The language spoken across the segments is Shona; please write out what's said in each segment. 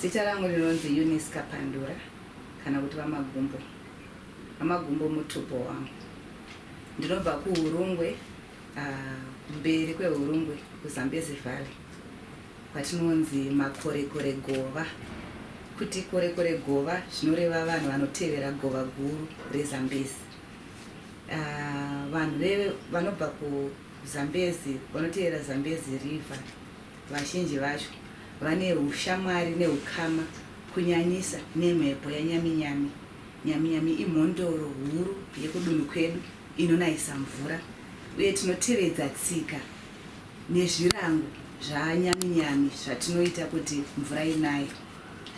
Zita rangu rinonzi Eunice Kapandura kana kuti VaMagumbo. VaMagumbo mutupo wangu. Ndinobva kuHurungwe, uh, mberi kweHurungwe, kuZambezi Valley, kwatinonzi Makorekore Gova. Kuti Korekore Gova zvinoreva vanhu vanotevera gova guru reZambezi. Uh, vanhu vanobva kuZambezi vanotevera Zambezi River Vazhinji vacho vane ushamwari nehukama kunyanyisa nemhepo yaNyaminyami. Nyaminyami imhondoro huru yekudunhu kwedu inonayisa mvura uye tinotevedza tsika nezvirango zvaNyaminyami zvatinoita kuti mvura inaye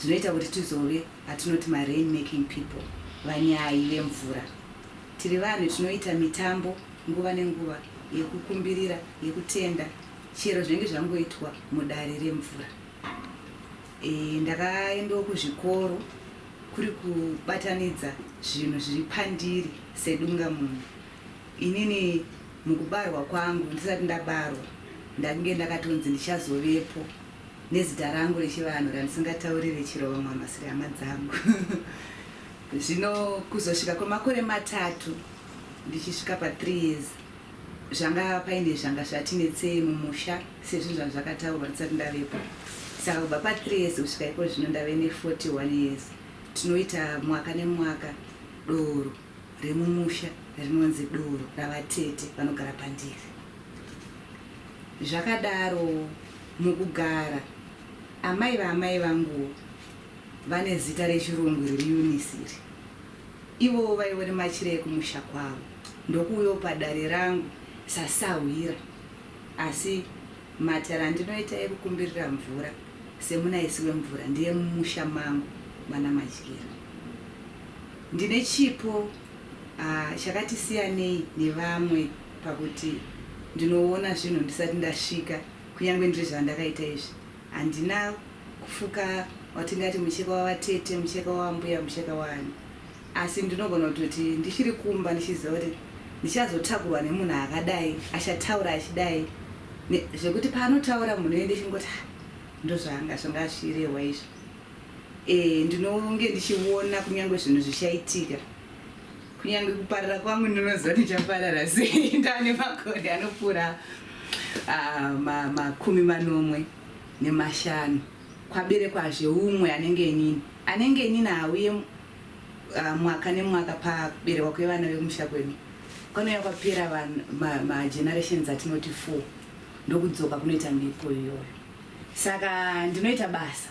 zvinoita kuti tizove atinoti maRain making people, vanyayi vemvura. Tiri vanhu tinoita mitambo nguva nenguva yekukumbirira, yekutenda chero zvainge zvangoitwa mudare remvura e, ndakaendawo kuzvikoro kuri kubatanidza zvinhu zviri pandiri sedunga munhu inini mukubarwa kwangu ndisati ndabarwa ndakunge ndakatonzi ndichazovepo nezita rangu rechivanhu randisingataurire chero vamwe amasiri hama dzangu zvino kuzosvika kwemakore matatu ndichisvika pa3 years Zvanga paine zvanga zvati netsei mumusha sezvinhu zvanga zvakataurwa ndisati ndavepo. Saka kubva pa 3 years kusvika iko zvino ndave ne 41 years. Tinoita mwaka nemwaka doro remumusha rinonzi doro ravatete vanogara pandiri. Zvakadaro mukugara amai vaamai vanguwo vane zita rechirungu iri Eunice iri. Ivowo vaive nemachira ekumusha kwavo ndokuuyawo padare rangu sasahwira asi matare andinoita ekukumbirira mvura semunaisi wemvura ndeemumusha mangu mana Madyira. Ndine chipo uh, chakati siyanei nevamwe pakuti ndinoona zvinhu ndisati ndasvika kunyange ndiri zvandakaita izvi Handina kufuka watingati mucheka wavatete, mucheka wavambuya, mucheka waani asi ndinogona kutoti ndichiri kumba ndichiziva kuti ndichazotakurwa nemunhu akadai achataura achidai zvekuti paanotaura munhu uye ndichingoti ah, ndozvanga zvanga zvichirehwa izvo e, ndinonge ndichiona kunyange zvinhu zvichaitika kunyange kuparara kwangu ndinoziva ndichaparara sei ndane makore anopfuura ah, makumi manomwe nemashanu kwaberekwazve umwe anenge inini anenge inini hauye ah, mwaka nemwaka pakuberekwa kwevana vemusha kwedu kwanouya kwapera magenerations ma atinoti four ndokudzoka kunoita mhepo iyoyo saka ndinoita basa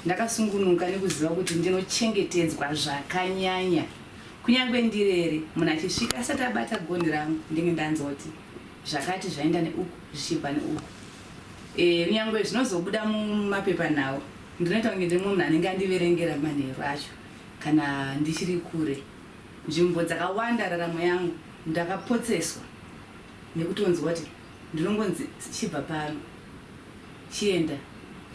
ndakasungunuka nekuziva kuti ndinochengetedzwa zvakanyanya Kunyangwe ndirere, munhu achisvika asati abata gonhi rangu ndenge ndanzoti zvakati zvaenda neuku zvichibva neuku. Eh, kunyangwe zvinozobuda mumapepanhau, ndinoita kunge ndiri mumwe munhu anenge andiverengera manheru acho kana ndichiri kure. Nzvimbo dzakawanda raramo yangu ndakapotseswa nekutonzwa kuti ndinongonzi chibva pano chienda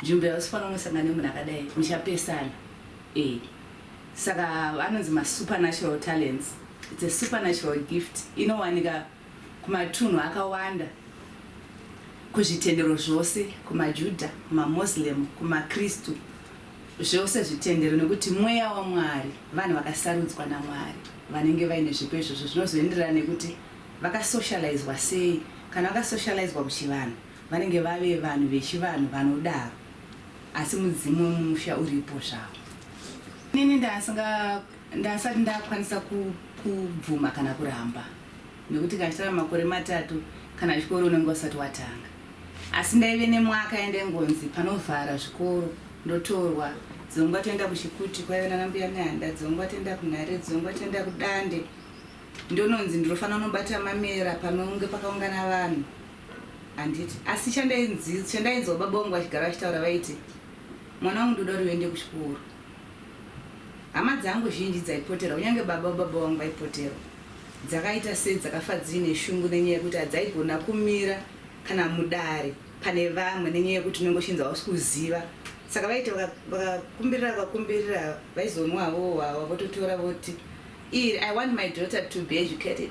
nzvimbo yausifanira kunosangana nemunhu akadai muchapesana. Eeh saka anonzi ma supernatural talents it's a supernatural gift inowanika kumatunhu akawanda kuzvitendero zvose kuma Juda kuma Moslem kuma Kristu zvose zvitendero nekuti mweya waMwari vanhu vakasarudzwa naMwari vanenge vaine zvipo izvozvo zvinozoenderana nekuti vaka socializwa sei kana vaka socializwa kuchivanhu Vanenge vave vanhu vechivanhu, vanodaro asi mudzimu wemumusha uripo zvawo. Inini ndasanga ndasati ndakwanisa kubvuma kana kuramba nekuti kana chitava makore matatu kana chikoro unenge usati watanga asi ndaive nemwaka yandaingonzi panovhara zvikoro ndotorwa dzongwa toenda kuchikuti kwaive nana mbuya mihanda dzongwa toenda kunhare dzongwa toenda kudande ndononzi ndinofanira kunobata mamera panonge pakaungana vanhu Handiti. Asi chandainzi, chandainzwa baba vangu vachigara vachitaura vaiti, Mwana wangu ndoda kuti uende kuchikoro. Hama dzangu zhinji dzaipoterwa, kunyange baba vababa vangu vaipoterwa. Dzakaita sei dzakafa dziine shungu nenyaya yekuti hadzaigona kumira kana mudare pane vamwe nenyaya yekuti unenge uchinzi hausi kuziva. Saka vaiti vaka- vakakumbirira vakakumbirira vaizonwa havo hwawa vototora voti, Iri, I want my daughter to be educated.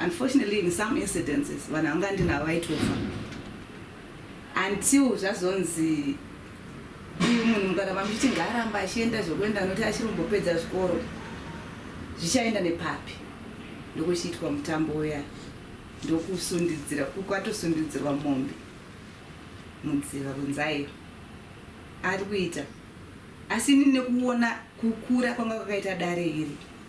Unfortunately in some incidences vanhu vanga ndinavo vaitofa until zvazonzi uyu munhu mukaramba muchiti ngaaramba achienda zvekuenda noti achiri kumbopedza zvikoro zvichaenda nepapi ndokuchiitwa mutambo uya ndokusundidzira kwatosundidzirwa mombe mudziva kunzaiyo ari kuita asi ini nekuona kukura kwanga kwakaita dare iri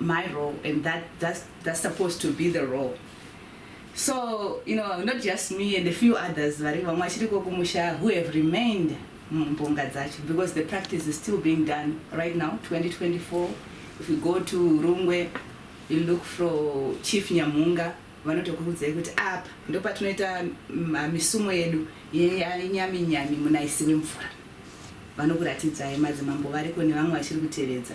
my role and that that's, that's supposed to be the role so you know not just me and a few others vari vamwe vachiriko kumusha who have remained mumbonga dzacho because the practice is still being done right now 2024 if you go to rungwe you look for chief nyamhunga vanotokurudzai kuti apa ndopatinoita misumo yedu yenyami nyami munaisi wemvura vanokuratidzai madzimambo variko nevamwe vachiri kutevedza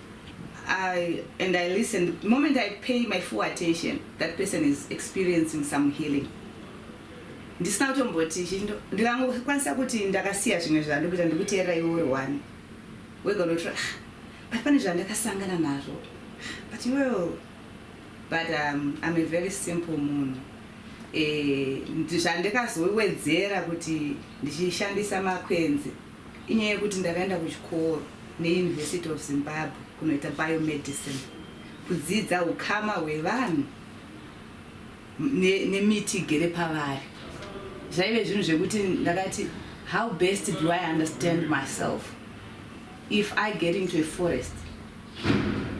I, and I listen. The moment I pay my full attention, that person is experiencing some healing. ndisina kutomboti chindo ndikangokwanisa kuti ndakasiya zvimwe zvandikuita ndikuteerera iwe uri one wega unotora ah, but pane zvandakasangana nazvo but iwewo but um, I'm a very simple munhu eh, zvandikazowedzera kuti ndichishandisa makwenzi Inyaya yekuti ndakaenda kuchikoro neUniversity of Zimbabwe kunoita biomedicine, kudzidza hukama hwevanhu ne, nemiti igere pavari. Zvaive zvinhu zvekuti ndakati how best do I understand myself if I get into a forest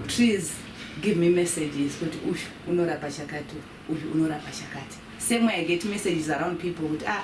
trees give me messages kuti uyu unorapa chakati uyu unorapa chakati same way I get messages around people kuti ah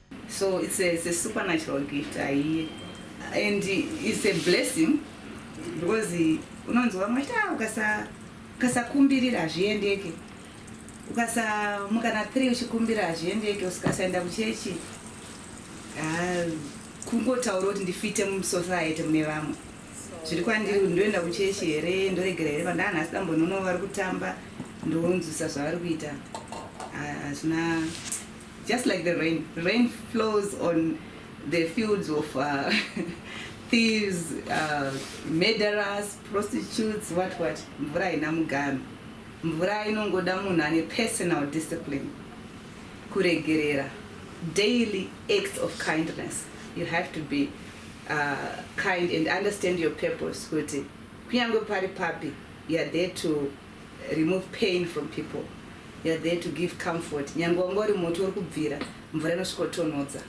So it's a, it's a supernatural gift aiye and it's a blessing because unonzi vamwe ta ah, ukasa ukasakumbirira hazviendeke ukasamuka na three uchikumbira hazviendeke usikasaenda kuchechi ah, kungotaura kuti ndifite musociety mune vamwe zviri kwandiri kuti ndoenda kuchechi here ndoregera here vandana asi dambonono vari kutamba ndonzwisa zvavari kuita ah, hazvina Just like the rain, rain flows on the fields of uh, thieves, uh, murderers, prostitutes, what what. Mvura haina mugano. Mvura inongoda munhu ane personal discipline. Kuregerera. Daily acts of kindness. You have to be uh, kind and understand your purpose kuti kunyange pari papi you are there to remove pain from people you're there to give comfort nyangwe wanga uri moto uri kubvira mvura inosvikotonhodza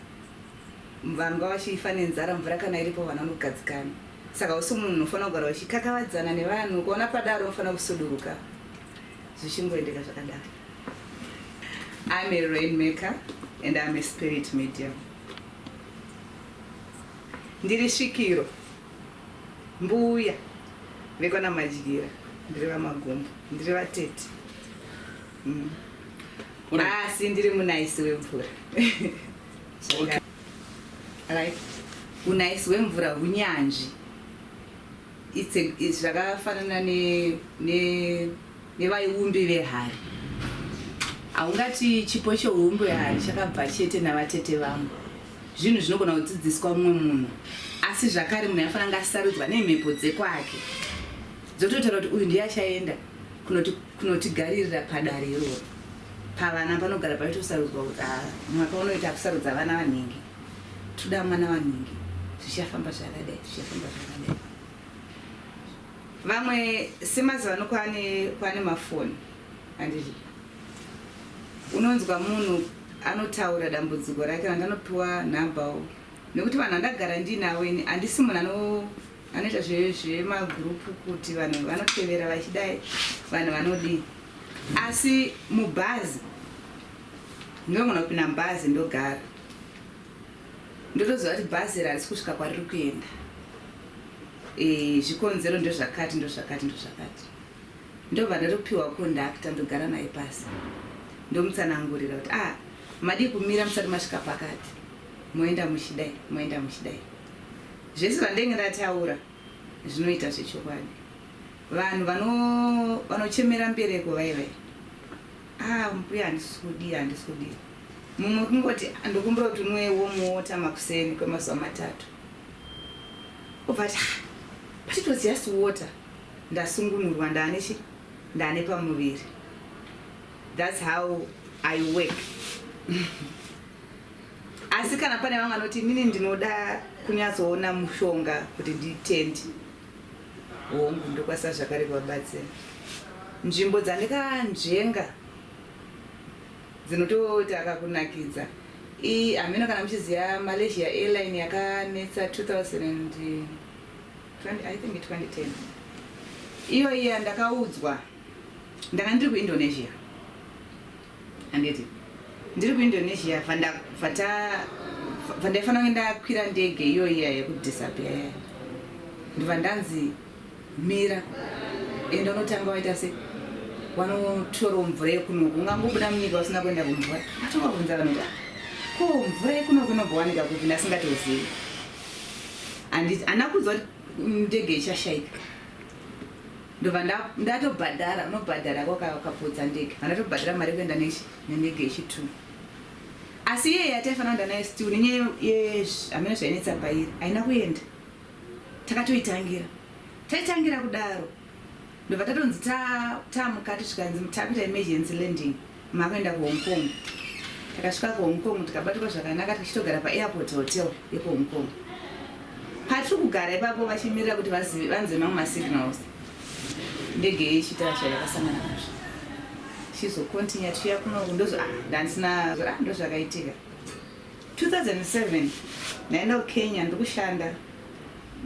vanhu nga vachifa nenzara mvura kana iripo vanhu vanogadzikana saka usi munhu unofanira kugara uchikakavadzana nevanhu ukaona padaro unofanira kusuduruka zvichingoendeka zvakadaro I'm a rainmaker and I'm a spirit medium. Ndiri svikiro Mbuya vekwana Madyira ndiri vaMagumbo, ndiri vatete mm. asi ah, ndiri munaisi wemvura okay. right. unaisi wemvura hunyanzvi zvakafanana ne, ne nevaiumbi vehari. Haungati chipo chehuumbi hwehari chakabva chete navatete vangu. Zvinhu zvinogona kudzidziswa mumwe munhu, asi zvakare munhu aifanira kunge asarudzwa nemhepo dzekwake dzototaura kuti uyu ndiye achaenda kunotigaririra padare iroro. Pavana panogara paitosarudzwa kuti ah, mwaka unoita kusarudza vana vanhingi, toda mwana wanhingi, zvichafamba zvakadai, zvichafamba zvakadai. Vamwe semazuva ano kwane kwane mafoni andizvo unonzwa munhu anotaura dambudziko rake vanhu anopiwa nhambawo nekuti vanhu andagara ndiinavo ini handisi munhu ano anoita zvemagurupu kuti vanhu vanotevera vachidai vanhu vanodii asi mubhazi ndogona kupinda mubhazi ndogara Ndotoziva kuti bhazi iri harisi kusvika kwariri kuenda. Eh, zvikonzero ndozvakati ndozvakati ndozvakati. Ndobva ndotopiwa kondakta ndogara naye pasi. Ndomutsanangurira kuti ah, madii kumira musati masvika pakati. Moenda muchidai, moenda muchidai. Zvese zvandenge ndataura zvinoita zvechokwadi. Vanhu vano vanochemera mbereko vaye vaye. Haa mbuya handisi kudii handisi kudii mumwe kungoti ndokumbira kuti unwe warm water makuseni kwemazuva matatu obva ati ah, but it was just water ndasungunurwa ndaane chi ndaane pamuviri thats how i work asi kana pane vamwe vanoti inini ndinoda kunyatsoona mushonga kuti nditendi Hongu, ndokwasa zvakare kuvabatsira. Nzvimbo dzandikanzvenga dzinotoita akakunakidza iyi hameno kana muchiziva Malaysia Airline yakanetsa 2020 I think 2010 iyo iya ndakaudzwa ndanga ndiri kuIndonesia Handiti ndiri kuIndonesia vandaifanira kunge ndakwira ndege iyoyi iya yekudisappear yaya ndobva ndanzi mira enda unotanga waita se wanotorawo mvura yekunoku ungangobuda munyika usina kuenda kumvura atonga kunza vanoda ko mvura yekunoku inobhowanika kupi ndasingatozivi anditi ana kudzwa ndege ichashaika ndobva ndatobhadhara unobhadhara ko kapotsa ndege vandatobhadhara mari yekuenda nendege yechitwo asi iye yataifanira kuenda naye still nenyaya yehameno zvainetsa pairi haina kuenda takatoitangira taitangira kudaro ndobva tatonzi tamukati zvikanzi takuita emergency landing Makaenda kuHong Kong. Takasvika kuHong Kong tikabatirwa zvakanaka tichitogara paAirport Hotel yekuHong Kong. Patiri kugara ipapo vachimirira kuti vanzwe mamwe masignals ndege yechitara chayo yakasangana nazvo chizocontinue tichiya kunoku ndozo ah, ndandisina ah, ndozvakaitika 2007 ndaenda kukenya ndikushanda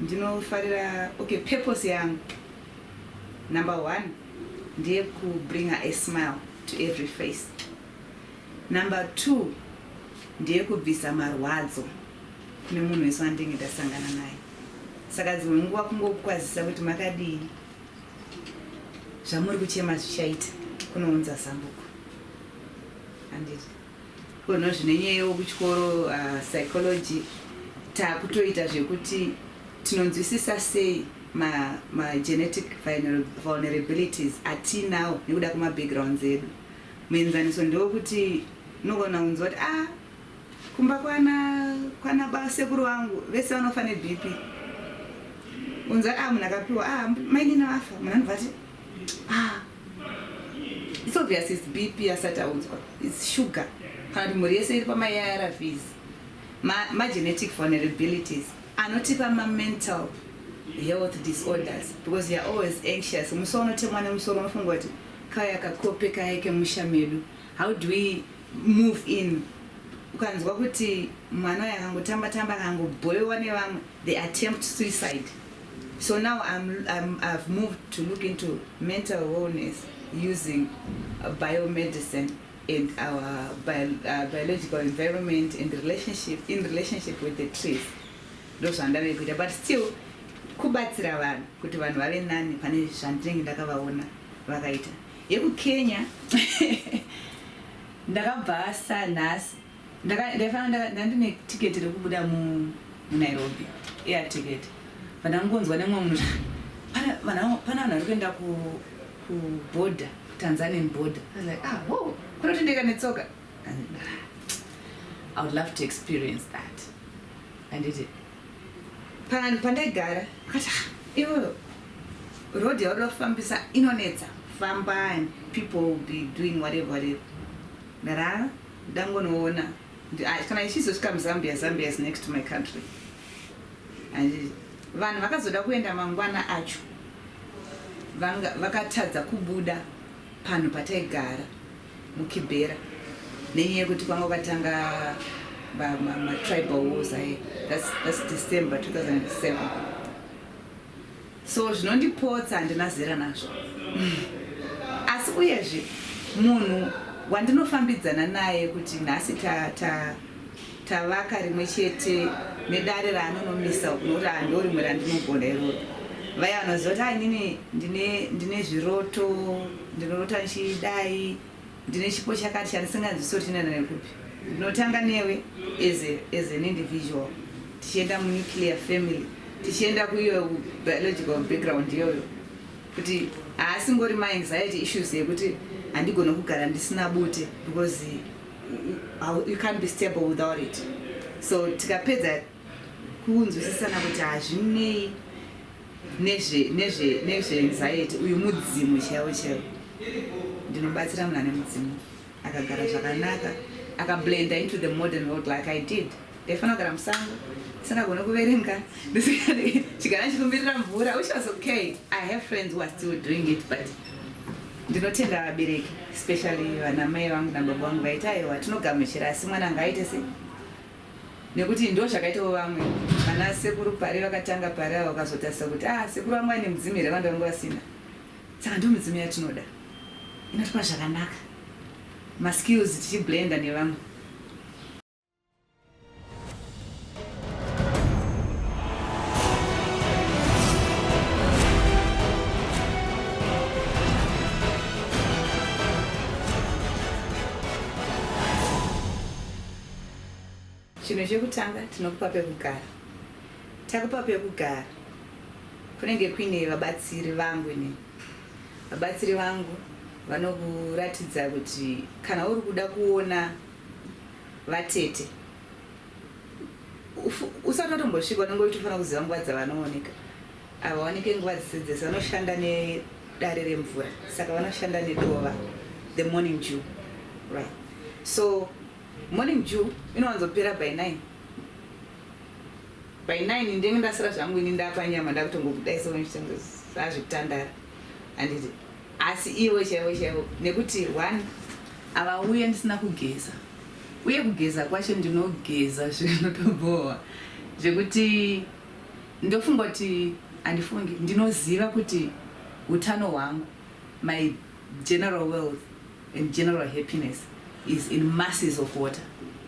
ndinofarira okay purpose yangu number one ndeku bringer a smile to every face. Number two ndeyekubvisa marwadzo kune munhu wese wandenge ndasangana naye. Saka dzimwe nguva kungokukwazisa kuti makadii zvamuri kuchema zvichaita kunounza zambuko. Anditi. Ko no zvine nyaya yewo kuchikoro uh, psychology takutoita zvekuti tinonzwisisa sei ma, ma genetic vulnerabilities atinawo nekuda kwema backgrounds edu muenzaniso ndewekuti unogona kunzwa kuti ah kumba kwana kwana basekuru vangu vese vanofa nebp unza ah munhu akapiwa ah mainini vafa munhu anobva ati ah It's obvious it's BP asati audzwa. It's sugar. Kana kuti mhuri yese iri pama ARVs. Ma, ma genetic vulnerabilities anotipa ma mental health disorders because you're always anxious. Musi unotemwa nemusoro unofunga kuti kaya kakope kaye kemusha medu. How do we move in? Ukanzwa kuti mwana uyu akangotamba tamba akangobhoiwa nevamwe, they attempt suicide. So now I'm, I'm, I've moved to look into mental wellness using uh, biomedicine and our bio, uh, biological environment and relationship in relationship with the trees ndozvandave kuita but still kubatsira vanhu kuti vanhu vave nani pane zvandinenge ndakavaona vakaita yekukenya ndakabva sa nhasi Ndaifanira ndandine ticket rekubuda mu Nairobi air ticket but ndangonzwa nemwe munhu pana vanhu pana vanhu varikuenda ku ku border Tanzanian border I was like ah whoa kunotendeka netsoka I would love to experience that and it pan pandaigara kata ah, iwe road yauri kufambisa inonetsa famba and people will be doing whatever whatever ndarara Ndangonoona kana ichizosvika muZambia Zambia is next to my country and vanhu vakazoda kuenda mangwana acho vakatadza kubuda panhu pataigara mukibhera nenyaya yekuti kwanga kwatanga matribal wars aye thats december 2007 So zvinondipotsa handina zera nazvo. Asi uyezve munhu wandinofambidzana naye kuti nhasi ta ta tavaka rimwe chete nedare raanonomisa nokuti hando rimwe randinogona iroro vaya vanoziva kuti ainini ndine, ndine zviroto ndinorota ndichidai Ndine chipo chakati chandisinganzwisi kuti chinoenda nekupi. Ndinotanga newe as, a, as an individual tichienda munuclear family tichienda kuiyo biological background iyoyo kuti haasingori maanxiety issues yekuti handigone kugara ndisina bute because you can't be stable without it so tikapedza kunzwisisana kuti hazvinei nezve nezve nezve anxiety uyu mudzimu chaiwo chaiwo ndinobatsira munhu ane mudzimu akagara zvakanaka akablenda into the modern world like i did ndaifanira kugara musango singagone kuverenga chigara chikumbirira mvura which was okay i have friends who are still doing it but ndinotenda vabereki especially vanamai vangu nababa vangu vaiti aiwa tinogamuchira asi mwana anga aite sei nekuti ndozvakaitawo vamwe vana sekuru pare vakatanga pare ava ukazotarisa kuti ah sekuru vangu vaine mudzimu here vange vange vasina saka ndo midzimu yatinoda inotipa zvakanaka maskills tichiblenda nevamwe Chinhu chekutanga tinokupa pekugara. Takupa pekugara kunenge kuine vabatsiri vangu ini. Vabatsiri vangu vanokuratidza kuti kana uri kuda kuona vatete usati watombosvika unenge uchitofanira kuziva nguva dzavanooneka Havawanike nguva dzese dzese vanoshanda nedare remvura saka vanoshanda nedova the morning dew right so morning dew inowanzopera by 9 by 9 ndenge ndasara zvangu ini ndapanyama ndakutongokudaisa zvekutandara anditi asi ivo chaivo chaivo nekuti one avauye ndisina kugeza uye kugeza kwacho ndinogeza zvinotobhowa zvekuti Ndofunga kuti handifungi ndinoziva kuti hutano hwangu my general wealth and general happiness is in masses of water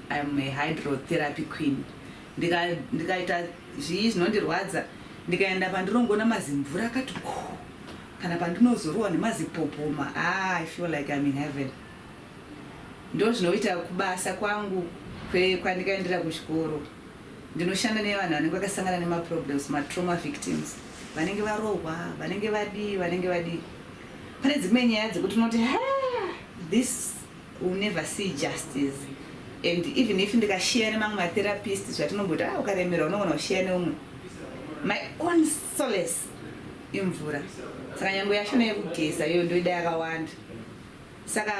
I am a hydrotherapy queen ndika ndikaita zvii zvinondirwadza ndikaenda pandinongoona mazimvura akati kuu kana pandinozorohwa nemazipopoma haa I feel like I'm in heaven ndozvinoita kubasa kwangu kwandikaendera kuchikoro Ndinoshanda nevanhu vanenge vakasangana nema problems, ma trauma victims, vanenge varohwa, vanenge vadii vanenge vadii. Pane dzimwe nyaya dzekuti unoti haa this will never see justice and even if ndikashare nemamwe ma therapist zvatinomboita haa ukaremerwa unogona kushare neumwe. My own solace imvura saka nyangwe yashona yekugeza iyoyo ndoida yakawanda. Saka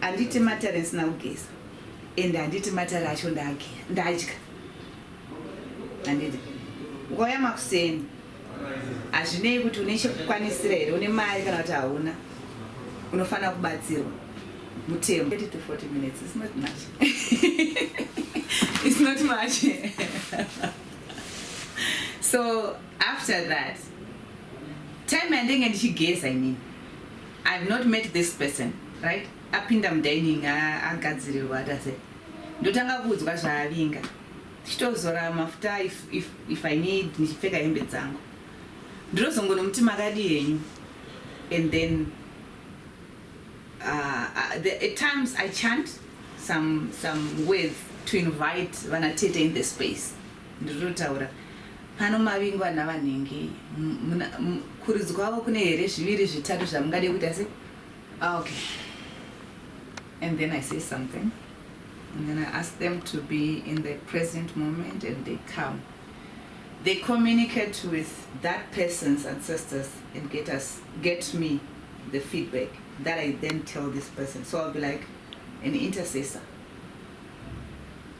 handiti matare ndisina kugeza and handiti matare acho ndadya handiti ukauya makuseni hazvinei kuti une chekukwanisira here une mari kana kuti hauna unofanira kubatsirwa mutemo 30 to 40 minutes is not much it's not much so after that time yandenge ndichigeza inini I have not met this person right apinda mudining agadzirirwa ati ase ndotanga kuudzwa zvaavinga tichitozora mafuta if, if, if i need ndichipfeka hembe dzangu ndinozongonomuti makadi henyu and then uh, uh, the, at times i chant some, some words to invite vanatete in the space Ndiri kutotaura pano mavingwa ana vanhingi kuridzi kwavo kune here zviviri zvitatu zvamungade kuita se ah, okay and then i say something and then i ask them to be in the present moment and they come they communicate with that person's ancestors and get us get me the feedback that i then tell this person so i'll be like an intercessor